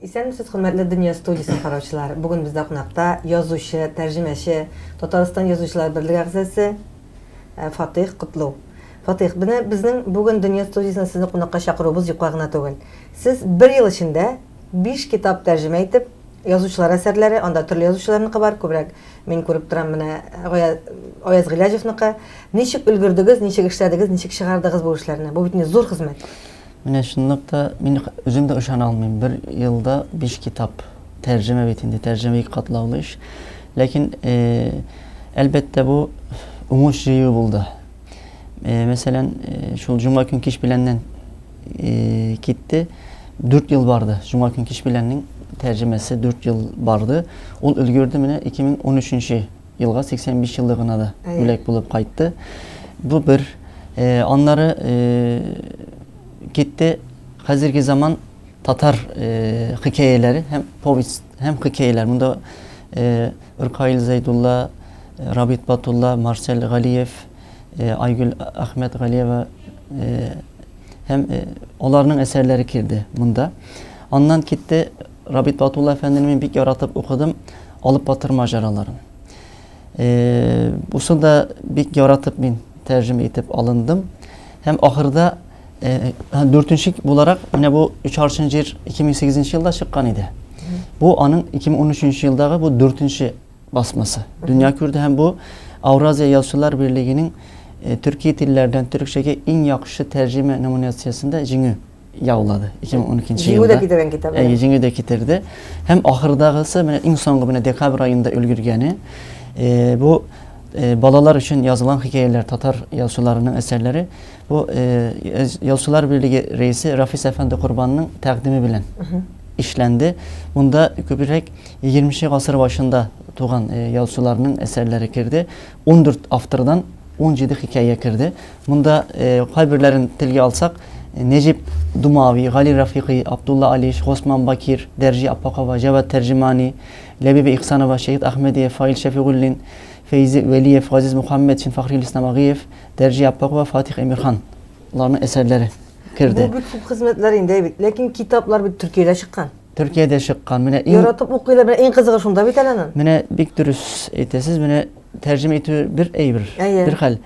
Исәнмесез, хөрмәтле Дөнья студиясе караучылары. Бүген бездә кунакта язучы, тәрҗемәче, Татарстан язучылар берлеге әгъзасы э, Фатих Котлу. Фатыйх, менә безнең бүген дөнья студиясенә сезне кунакка чакыруыбыз юкка гына түгел. Сез бер ел эчендә биш китап тәрҗемә итеп, язучылар әсәрләре, анда төрле язучыларныкы бар, күбрәк мин күреп торам менә Гая Аяз Гыйләҗевныкы. Ничек өлгердегез, ничек эшләдегез, ничек чыгардыгыз бу эшләрне? Бу бит инде зур хезмәт. Менә чынлап та, мин үзем дә ышана алмыйм, бер елда биш китап. Тәрҗемә бит инде, тәрҗемә ике катлаулы эш. Ләкин, әлбәттә, бу уңыш җыю булды. Мәсәлән, шул җомга көн кич беләннән китте, 4 ел барды. Җомга көн кич беләннең тәрҗемәсе 4 ел барды. Ул өлгерде менә 2013 елга 85 еллыгына да бүләк булып кайтты. Бу бер. Аннары китте хәзерге заман татар хикәяләре һәм повесть һәм хикәяләр. Монда Ркаил Зәйдулла, Рабит Батулла, Марсель Галиев, Айгөл Әхмәтгалиева һәм аларның әсәрләре керде монда. Аннан китте Рабит Батулла әфәндене мин бик яратып укыдым, алып батыр маҗараларын. Бусын да бик яратып мин тәрҗемә итеп алындым һәм ахырда Дүртенче буларак, менә бу өч аршын җир 2008 елда чыккан иде. Бу аның 2013 елдагы бу дүртенче басмасы. Дөнья күрде һәм бу Ауразия язучылар берлегенең э, төрки телләрдән төрекчәгә иң яхшы тәрҗемә номинациясендә җиңү яулады 2012 елда. Җиңү дә китергән китабы. Әйе, җиңү дә китерде. Һәм ахырдагысы менә иң соңгы менә декабрь аенда өлгергәне э, бу Э, балалар өчен язылган хикәяләр татар язучыларының әсәрләре Бу Ялчылар берлеге рәисе Рафис әфәнде Корбанның тәкъдиме белән эшләнде. Монда күбрәк 20 нче гасыр башында туган ялчыларның әсәрләре керде. 14 автордан 17 хикәя керде. Монда кайберләрен телгә алсак, Нәҗип Думави, Гали Рафикый, Абдулла Алиш, Госман Бакир, Дәрҗи Аппакова, Җавад Тәрҗемани, Ләбибә Ихсанова, Шәһит Әхмәдиев, Фаил Шәфигуллин, Фәйзи Вәлиев, Газиз Мухаммедшин, Фахрил Исламагыев, Дәрҗә Яппакова, Фатих Эмирхан ларның әсәрләре керде. Бу бит күп хезмәтләр инде, әйбит. Ләкин китаплар бит Төркиядә чыккан. Төркиядә чыккан. Менә иң Яратып укыйлар, менә иң кызыгы шунда бит әле аның. Менә бик дөрес әйтәсез. Менә тәрҗемә итү бер әйбер, бер хәл.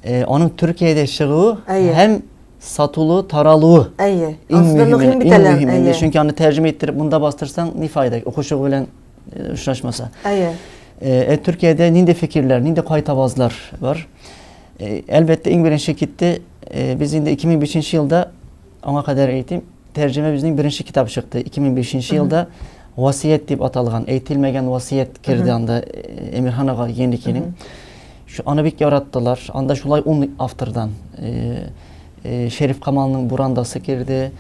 Э, аның Төркиядә чыгуы һәм сатулы, таралуы. Әйе. Иң мөһиме, иң мөһиме. Чөнки аны тәрҗемә иттереп монда бастырсаң, ни файда? Укучы белән очрашмаса. Әйе. Э, Төркиядә нинди фикерләр, нинди кайтавазлар бар? Э, әлбәттә, иң беренче китте, э, без инде 2005 елда, аңа кадәр әйтим, тәрҗемә безнең беренче китап чыкты. 2005 елда Васият дип аталган, әйтелмәгән васият керде анда Эмирхан ага Еникинең. Аны бик яраттылар. Анда шулай ун автордан Шериф Камалның Бурандасы керде.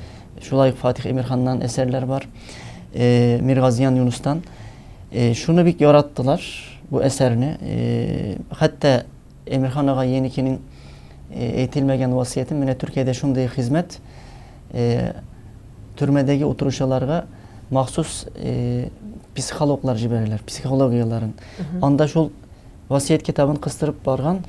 Шулай Фатих Эмирханнан әсәрләр бар. э, Миргазиян Юнустан. Э, шуны бик яраттылар, бу әсәрне. Э, хәтта Эмирхан ага Еникинең э, әйтелмәгән васыятен, менә Төркиядә шундый хезмәт, э, төрмәдәге утыручыларга махсус э, психологлар җибәрәләр, психологияләрен. Анда шул Васыять китабын кыстырып барган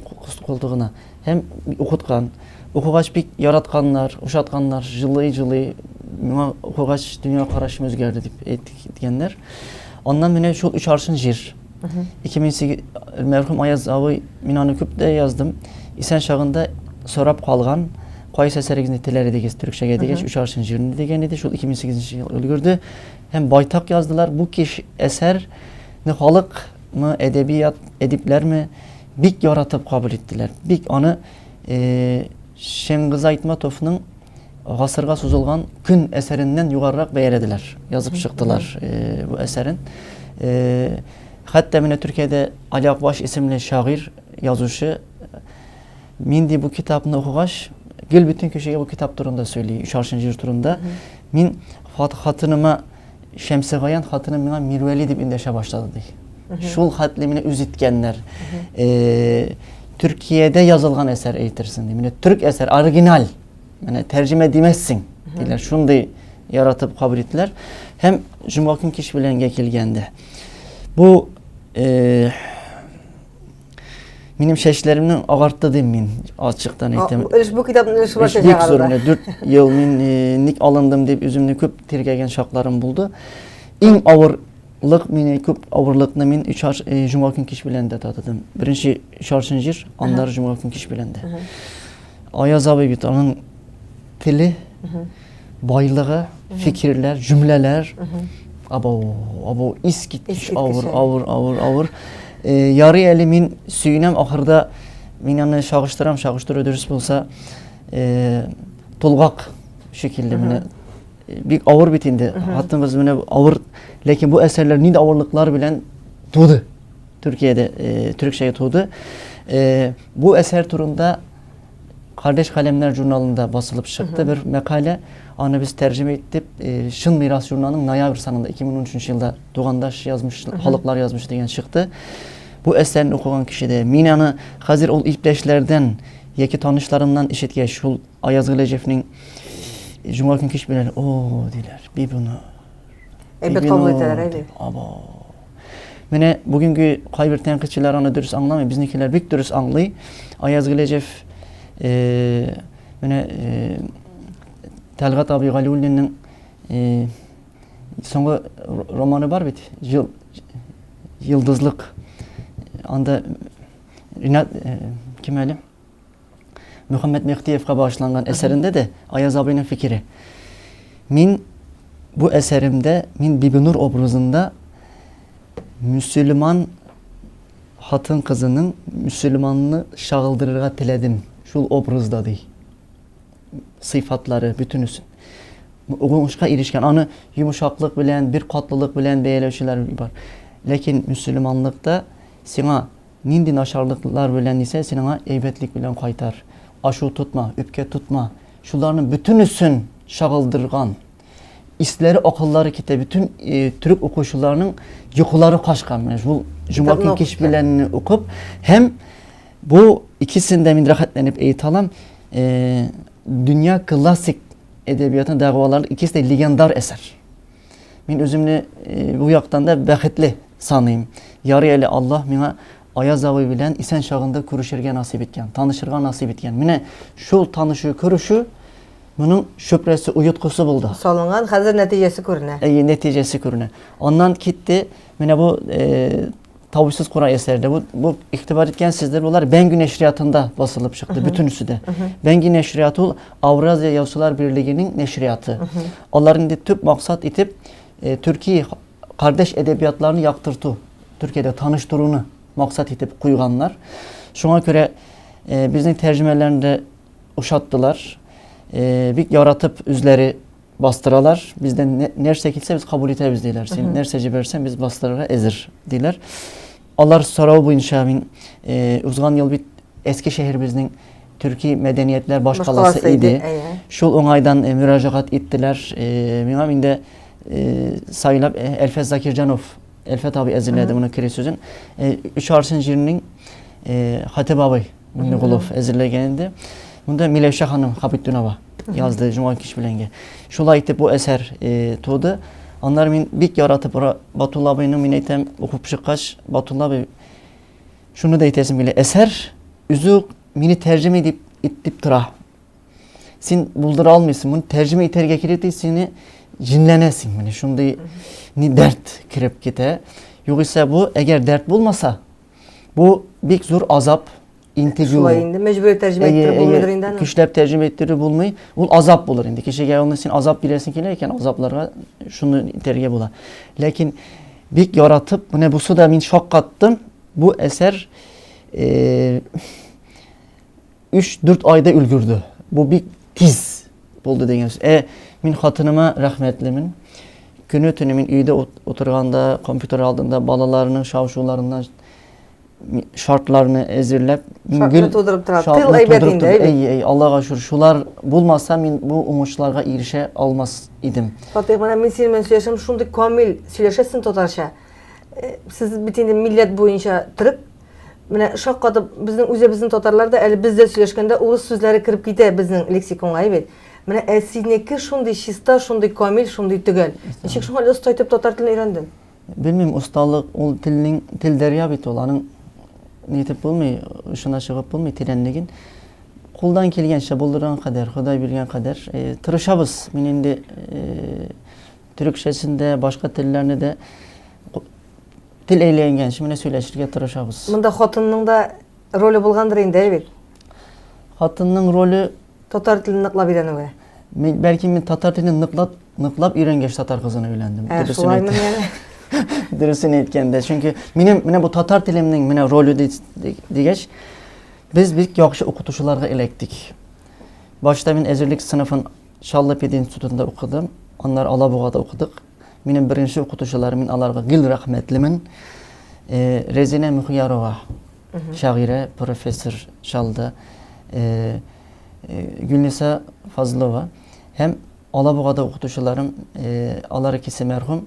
култыгына һәм укыткан. Укыгач бик яратканнар, ошатканнар, җылый-җылый, моңа укыгач дөнья карашым үзгәрде дип әйткәннәр. Аннан менә шул өч аршын җир. 2008 мәрхүм Аяз абый, мин аны күп тә яздым. Исән чагында сорап калган, кайсы әсәрегезне теләр идегез төрекчәгә дигәч, өч аршын җирне дигән иде. Шул 2008 ел өлгерде һәм байтак яздылар. Бу кеш әсәрне халык Мы әдәбият, әдипләрме бик яратып кабул иттеләр. Бик аны Шәңгыза Айтматовның гасырга сузылган көн әсәреннән югарырак бәяләделәр, язып чыктылар бу әсәрен. Хәтта менә Төркиядә Али Акбаш исемле шагыйрь, язучы мин ди бу китапны укыгач, гел бөтен кешегә бу китап турында сөйли, Шаршин җыр турында. Мин хатыныма Шәмсегаян хатыны миңа Мирвәли дип эндәшә башлады, ди. Шул хәтле мине үз иткәннәр. Э, Төркиядә язылган әсәр әйтерсең, ди. Менә төрк әсәр, оригиналь. Менә тәрҗемә димәссең, диләр. Шундый яратып кабул иттеләр. Һәм җомга көн кич беләнгә килгәндә. Бу э, Минем чәчләремне агартты дим мин, ачыктан әйтәм. Өлеш бу китапның өлеше бар чәчәк Бик зур, 4 ел мин э, ник алындым дип үземне күп тиргәгән шакларым булды. Иң авыр лык мені көп ауырлықны мен үш жұма күн кеш белән дә татыдым бірінші шаршын жер аннары жұма күн кеш белән дә аяз абай бит аның тілі байлыгы, фикерләр, җөмләләр. Абау, абау, искиткеч авыр, авыр, авыр, авыр. Э, ярый әле мин сөенәм, ахырда мин аны чагыштырам, чагыштыру дөрес булса, э, тулгак шикелле менә бик авыр бит инде. Хатыныбыз менә авыр, ләкин бу әсәрләр нинди авырлыклар белән туды? Төркиядә, э, төрекчәгә туды. Э, бу әсәр турында Кардәш каләмнәр журналында басылып чыкты бер мәкалә. Аны без тәрҗемә иттек. Чын мирас журналының ноябрь санында 2013 елда тугандаш язмыш, халыклар язмышы дигән чыкты. Бу әсәрне укыган кешедә мин аны хәзер ул иптәшләрдән яки танышларымнан ишеткәч, шул Аяз Гөләҗевнең Җомга көн кич белән, о, диләр, бибинур. Әйбәт кабул итәләр, әйе. Абау. Менә бүгенге кайбер тәнкыйтьчеләр аны дөрес аңламый, безнекеләр бик дөрес аңлый. Аяз Гөләҗев э, менә э, Тәлгат абый Галиуллинның э, соңгы романы бар бит, Жыл йылдызлык. Анда Ринат э, кем әле? Мөхәммәт Мехтиевка багышланган әсәрендә дә Аяз абыйның фикере. Мин бу әсәремдә мин Бибинур образында мөселман хатын кызының мөселманны чагылдырырга теләдем шул образда ди. Сыйфатлары бөтенесе. Уңышка ирешкән. Аны йомшаклык белән, бер катлылык белән бәяләүчеләр бар. Ләкин мөселманлыкта сиңа Нинди начарлыклар белән исә син аңа әйбәтлек белән кайтар. Ачу тотма, үпкә тотма. Шуларның бөтенесен чагылдырган. Исләре, акыллары китә. Бөтен төрек укучыларының йокылары качкан. Менә шул җомга көн кич белән укып һәм бу икесен дә мин рәхәтләнеп әйтә алам. Дөнья классик әдәбиятының дәгъвалары икесе дә легендар әсәр. Мин үземне э, бу яктан да бәхетле саныйм. Ярый әле Аллаһ миңа Аяз абый белән исән чагында күрешергә насыйп иткән, танышырга насыйп иткән. Менә шул танышу, күрешү моның шөпрәсе, уйыткысы булды. Салынган, хәзер нәтиҗәсе күренә. Әйе, нәтиҗәсе күренә. Аннан китте, менә бу э, Тавышсыз Коран әсәре дә. Бу игътибар иткәнсездер, булар Бәңги нәшриятында басылып чыкты бөтенесе дә. Бәңги нәшрият ул Ауразия яучылар берлегенең нәшрияты. Алар инде төп максат итеп э, төрки кардәш әдәбиятларны яктырту, Төркиядә таныштыруны максат итеп куйганнар. Шуңа күрә э, безнең тәрҗемәләрне дә ошаттылар. Э, бик яратып үзләре бастыралар. Бездән нәрсә килсә, без кабул итәбез диләр. Син нәрсә җибәрсәң, без бастырырга әзер диләр. Алар сорау буенча мин э, узган ел бит Әске шәһәребезнең төрки мәдәниятләр башкаласы иде. Шул уңайдан э, мөрәҗәгать иттеләр. Э, миңа инде сайлап Әлфәс Закирҗанов, Әлфәт абый әзерләде моны кере сүзен. Өч арсын җирнең Хатип абый Миннегулов әзерләгән инде. Монда Миләүшә ханым Хабитунова язды Җомга кич беләнгә. Шулай итеп бу әсәр э, туды. Аннары мин бик яратып Ра- Батулла абыйны мин әйтәм, укып чыккач, Батулла абый шуны да әйтәсем килә. Әсәр үзе үк мине тәрҗемә итеп итеп тора. Син булдыра алмыйсың, моны тәрҗемә итәргә кирәк ди, сине җенләнәсең. Менә шундый ни дәрт кереп китә. Югыйсә бу, әгәр дәрт булмаса, Бу бик зур азап, интегү. Шулай инде мәҗбүри тәрҗемә иттереп булмыйдыр инде аны. Көчләп тәрҗемә иттерү булмый. Ул азап булыр инде. Кешегә аны син азап бирәсең килә икән, азапларга шуны итәргә була. Ләкин бик яратып, менә бусы да мин шаккаттым. Бу әсәр э, 3-4 айда өлгерде. Бу бик тиз булды дигән сүз. Ә мин хатыныма рәхмәтлемен. Көне төне мин өйдә утырганда, компьютер алдында балаларның шау-шуларыннан шартларны әзерләп, мин гел тудырып тора. Тыл әйбәт инде, әйбәт. Әй, әй, Аллага шүр. Шулар булмаса, мин бу уңышларга ирешә алмас идем. Фатих, менә мин синең белән сөйләшәм, шундый камил сөйләшәсең татарча. Э, сез бит инде милләт буенча төрек, Менә шаккатып, безнең үзебезнең татарлар да әле без дә сөйләшкәндә урыс сүзләре кереп китә безнең лексиконга, әйбәт. Менә ә синеке шундый чиста, шундый камил, шундый төгәл. Ничек шуңа әле оста итеп татар телен өйрәндең? Белмим, осталык ул телнең тел дәрья бит ул, аның ни итеп булмый, очына чыгып булмый тирәнлеген. Кулдан килгәнчә, булдырган кадәр, Ходай биргән кадәр э, тырышабыз. Мин инде э, төрекчәсен дә, башка телләрне дә Тел әйләнгәнче менә сөйләшергә тырышабыз. Монда хатынның да роле булгандыр инде, әйбит. Хатынның роле татар телен ныклап өйрәнүгә. Мин бәлки мин татар телен ныклап ныклап өйрәнгәч татар кызына өйләндем. Ә, шулаймы яни? Дөресен әйткәндә, чөнки минем менә бу татар телемнең менә роле дигәч, без бик яхшы укытучыларга эләктек. Башта мин әзерлек сыйныфын Чаллы пединститутында укыдым, аннары Алабугада укыдык. Минем беренче укытучыларым, мин аларга гел рәхмәтлемен. Э, Резина Мөхиярова, шагыйрә, профессор Шалда, э, э, Гөлниса Фазлова һәм Алабугада укытучыларым, алар икесе мәрхүм,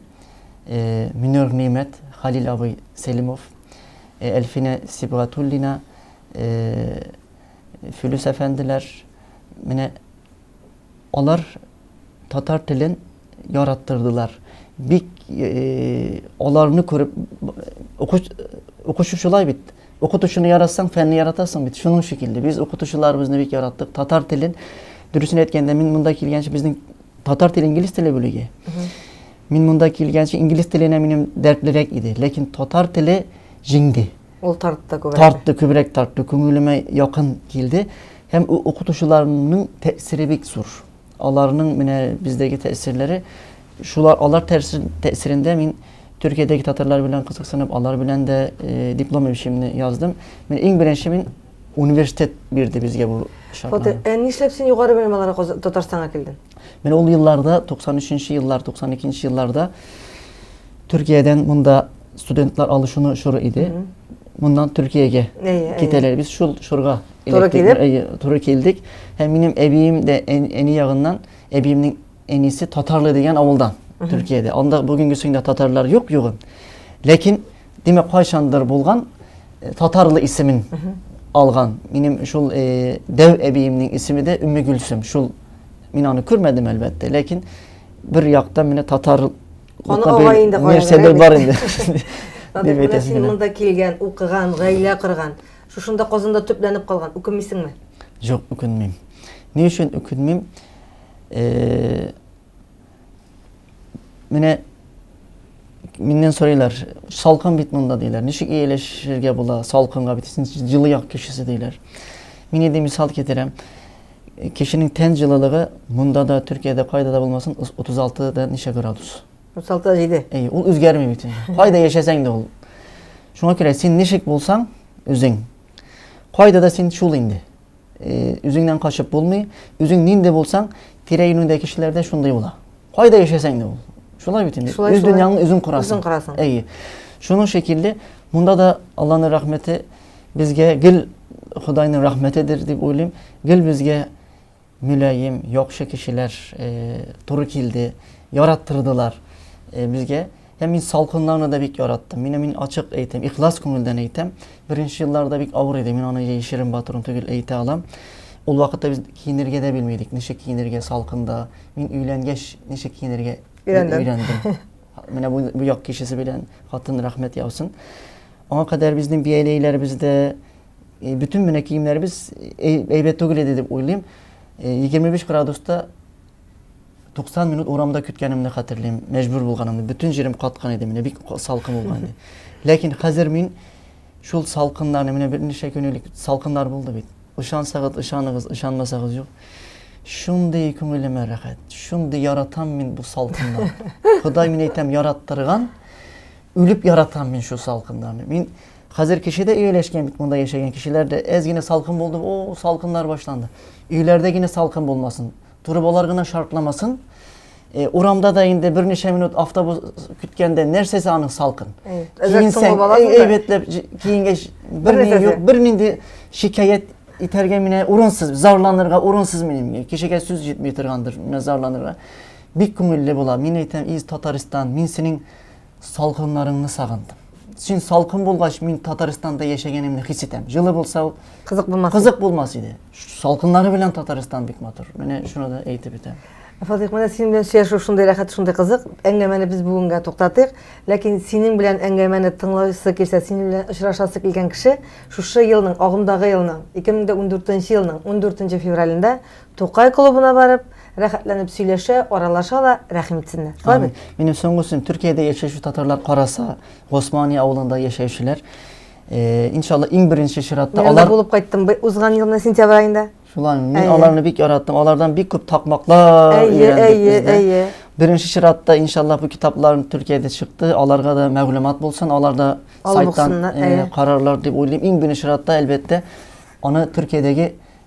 Минер Нимәт, Халил абый Селимов, Әлфинә Сибгатуллина, Филүс әфәнделәр, менә Алар татар телен яраттырдылар. Бик аларны күреп укучы шулай бит. Укытучыны яратсаң, фәнне яратасың бит. Шуның шикелле. Без укытучыларыбызны бик яраттык. Татар телен, дөресен әйткәндә, мин монда килгәнче безнең татар теле инглиз теле бүлеге. Мин монда килгәнче инглиз теленә минем дәртлерәк иде, ләкин татар теле җиңде. Ул тартты күбрәк. Тартты, күбрәк тартты, күңелемә якын килде. Һәм укытучыларның тәэсире бик зур. Аларның менә бездәге тәэсирләре, шулар алар тәэсирендә мин Төркиядәге татарлар белән кызыксынып, алар белән дә э, диплом эшемне яздым. Мин иң беренче мин университет бирде безгә бу шартны. Фатих, ә нишләп син югары белем алырга Татарстанга килдең? Менә ул елларда, 93 нче еллар, 92 нче елларда Төркиядән монда студентлар алышуны чоры иде. Моннан Төркиягә китәләр. Без шул чорга туры килеп, туры килдек. Һәм минем әбием дә әни ягыннан, әбиемнең әнисе Татарлы дигән авылдан, Төркиядә. Анда бүгенге сында татарлар юк югы. Ләкин димәк кайчандыр булган э, татарлы исемен алган минем шул э, дәү әбиемнең исеме дә өмме гөлсем шул мин аны күрмәдем әлбәттә ләкин бер яктан менә татар каны ага инде нәрсәдер бар инде дип әйтәсез син монда килгән укыган гаилә корган шушында казанда төпләнеп калган үкенмисеңме жоқ үкенмим ни өчен үкенмим э, Менә миннән сорыйлар, салкын бит монда диләр. Ничек ияләшергә була салкынга бит? Син җылы як кешесе диләр. Мин инде мисал китерәм. Кешенең тән җылылыгы монда да, Төркиядә кайда да булмасын, 36 да ничә градус. 36 да 7. Әй, ул үзгәрми бит. Кайда яшәсәң дә ул. Шуңа күрә син ничек булсаң, үзең. Кайда да син шул инде. Үзеңнән качып булмый, үзең нинди булсаң, тирә-юнеңдәге кешеләр дә шундый була. Кайда яшәсәң дә ул. Шулай бит инде. Үз дөньяңны үзең корасың. Үзең корасың. Әйе. Шуның шикелле, монда да Алланың рәхмәте безгә гел Худайның рәхмәтедер дип уйлыйм. Гел безгә мөлаем, яхшы кешеләр туры килде, яраттырдылар безгә. Я мин салкынларны да бик яраттым. Менә мин ачык әйтәм, ихлас күңелдән әйтәм. Беренче елларда бик авыр иде. Мин аны яшерен батырын түгел әйтә алам. Ул вакытта без киенергә дә белмидек. Ничек киенергә салкында. Мин өйләнгәч, ничек киенергә өйрәндем. Менә бу, бу як кешесе белән хатын рәхмәт яусын. Аңа кадәр безнең бияләйләребездә э, бөтен менә киемнәребез э, әйбәт түгел иде дип уйлыйм. 25 э, градуста 90 минут урамда көткәнемне хәтерлим, мәҗбүр булганымны, бүтән җирем каткан иде, менә бик салкын булган иде. Ләкин хәзер мин шул салкыннарны, менә берничә көн элек салкыннар булды бит. Ышансагыз, ышаныгыз, ышанмасагыз юк. Шундый күңелемә рәхәт, шундый яратам мин бу салкыннарны. Ходай мин әйтәм, яраттырган, үлеп яратам мин шул салкыннарны. Мин хәзер кешедә өйләшкән бит, монда яшәгән кешеләрдә әз генә салкын булды, о, салкыннар башланды. Өйләрдә генә салкын булмасын. Торбалар гына шартламасын. Э, урамда да инде берничә минут автобус көткәндә нәрсәсе аның салкын киенсәң әйбәтләп киенгәч берни юк бернинди шикаять итәргә менә урынсыз зарланырга урынсыз минем кешегә сүз җитми торгандыр менә зарланырга бик күңелле була мин әйтәм из татарстан мин синең Салкыннарыңны сагындым. Син салкын булгач, мин Татарстанда яшәгәнемне хис итәм. Җылы булса ул кызык булмас. Кызык булмас иде. Салкыннары белән Татарстан бик матур. Менә шуны да әйтеп үтәм. Фатих, менә синең белән сөйләшү шундый рәхәт, шундый кызык. Әңгәмәне без бүгенгә туктатыйк. Ләкин синең белән әңгәмәне тыңласы килсә, синең белән очрашасы килгән кеше шушы елның, агымдагы елның, 2014 елның 14 февралендә Тукай клубына барып, рәхәтләнеп сөйләшә, аралаша ла, рәхим итсеннәр. Шулай бит? Минем соңгы сүзем, Төркиядә яшәүче татарлар караса, Госмания авылында яшәүчеләр, э, иншалла, иң беренче чиратта Мин алар... булып кайттым бы- узган елны сентябрь айында. Шулай, мин Әйе. аларны бик яраттым, алардан бик күп такмаклар Әйе, өйрәндек әйе, без дә. әйе. Беренче чиратта, иншалла, бу китапларым Төркиядә чыкты, аларга да мәгълүмат булсын, алар да Алып сайттан укысыннар, э, әйе. карарлар дип уйлыйм. Иң беренче чиратта, әлбәттә, аны Төркиядәге